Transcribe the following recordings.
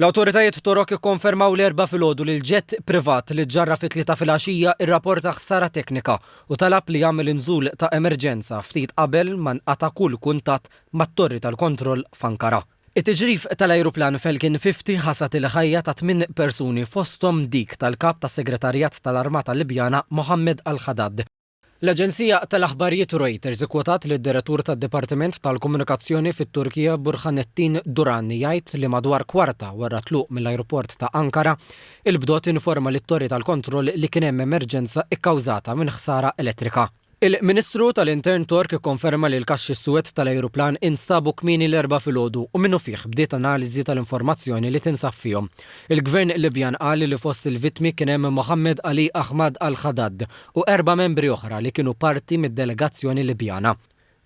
L-awtoritajiet Torok ikkonfermaw l-Erbgħa filgħodu li l-ġett privat li ġġarraf fit-Tlieta filgħaxija rraporta ħsara teknika u talab li jagħmel nżul ta' emerġenza ftit qabel ma nqata' kull kuntatt mat-torri tal-kontroll f'Ankara. It-tiġrif tal-ajruplan Falcon 50 ħasad il-ħajja ta' tmien persuni fosthom dik tal-Kap tas-Segretarjat tal-Armata Libjana Mohammed al-Haddad. L-aġenzija tal-aħbarijiet Reuters ikkwotat lid-Direttur tad-Dipartiment tal-Komunikazzjoni fit-Turkija Burhanettin Duran jgħid li madwar kwarta wara t-tluq mill-ajruport ta' Ankara, il-BDOT informa lit-torri tal-kontroll li kien hemm emerġenza kkawżata minn ħsara elettrika. Il-Ministru tal-Intern Tork ikkonferma li l-kaxxi suwed tal-ajruplan instabu kmieni l-Erbgħa filgħodu u minnufiħ bdiet analiżi tal-informazzjoni li tinsab fihom. Il-Gvern Libjan qal li fost il-vittmi kien hemm Mohammed Ali Ahmad al-Haddad, u erba' membri oħra li kienu parti mid-delegazzjoni Libjana.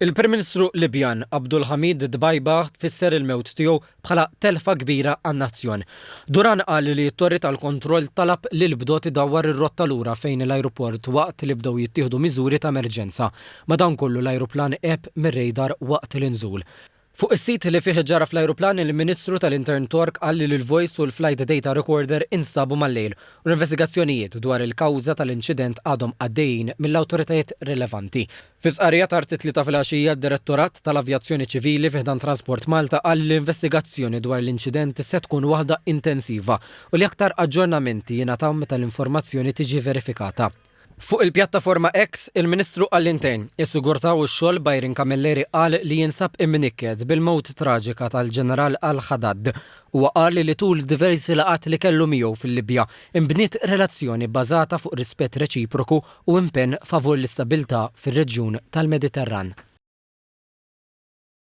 Il-Prim Ministru Libjan, Abdulhamid Dbeiba tfisser il-mewt tiegħu bħala telfa kbira għan-nazzjon. Duran qal li t-torri tal-kontroll talab lill-bdot idawwar ir-rotta lura fejn l-ajruport waqt li bdew jittieħdu miżuri ta' emerġenza. Madankollu l-ajruplan għeb mir-radar waqt l-inżul. Fuq is-sit li fih ġara fl-ajruplan, il-Ministru tal-Intern Tork qal li l-voice u l-flight data recorder instabu mal-lejl u l-investigazzjonijiet dwar il-kawża tal-inċident għadhom għaddejjin mill-awtoritajiet rilevanti. Fi stqarrija tard it-Tlieta filgħaxija, d-Direttorat tal-Avjazzjoni Ċivili fi ħdan Transport Malta qal li l-investigazzjoni dwar l-inċident se tkun waħda intensiva u li aktar aġġornamenti jingħataw meta l-informazzjoni tiġi verifikata. Fuq il-pjattaforma X, il-Ministru għall-Intern, is-Sigurtà u x-Xogħol Byron Camilleri qal li jinsab imnikket bil-mewt traġika tal-Ġeneral Al-Haddad. Huwa qal li tul diversi laqgħat li kellu miegħu fil-Libja, inbniet relazzjoni bbażata fuq rispett reċiproku u impenn favur l-istabilità fir-reġjun tal-Mediterran.